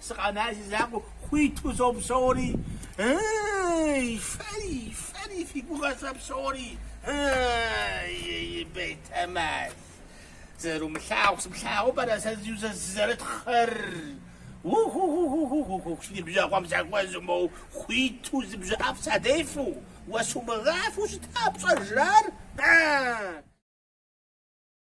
Сыкъэна си закъуэ хуиту сопсори, Ы-ы-ы-й, фэри, фэри фи гугъэ сэ псори, Ы-ы-ы-ы-й, Бетэмал. Зэрумылъагъу сыплъагъуу пэтрэ сэ сызэрытхъыр? У-ху-ху-ху-ху-ху-ху, си ныбжьэгъум сахуэзэу моу хуиту зы бжьэ ӏэфӏ садефэу, уэ сумыгъафэу щыта пщӏэжрар? Ы-ы-ы-ы-ы!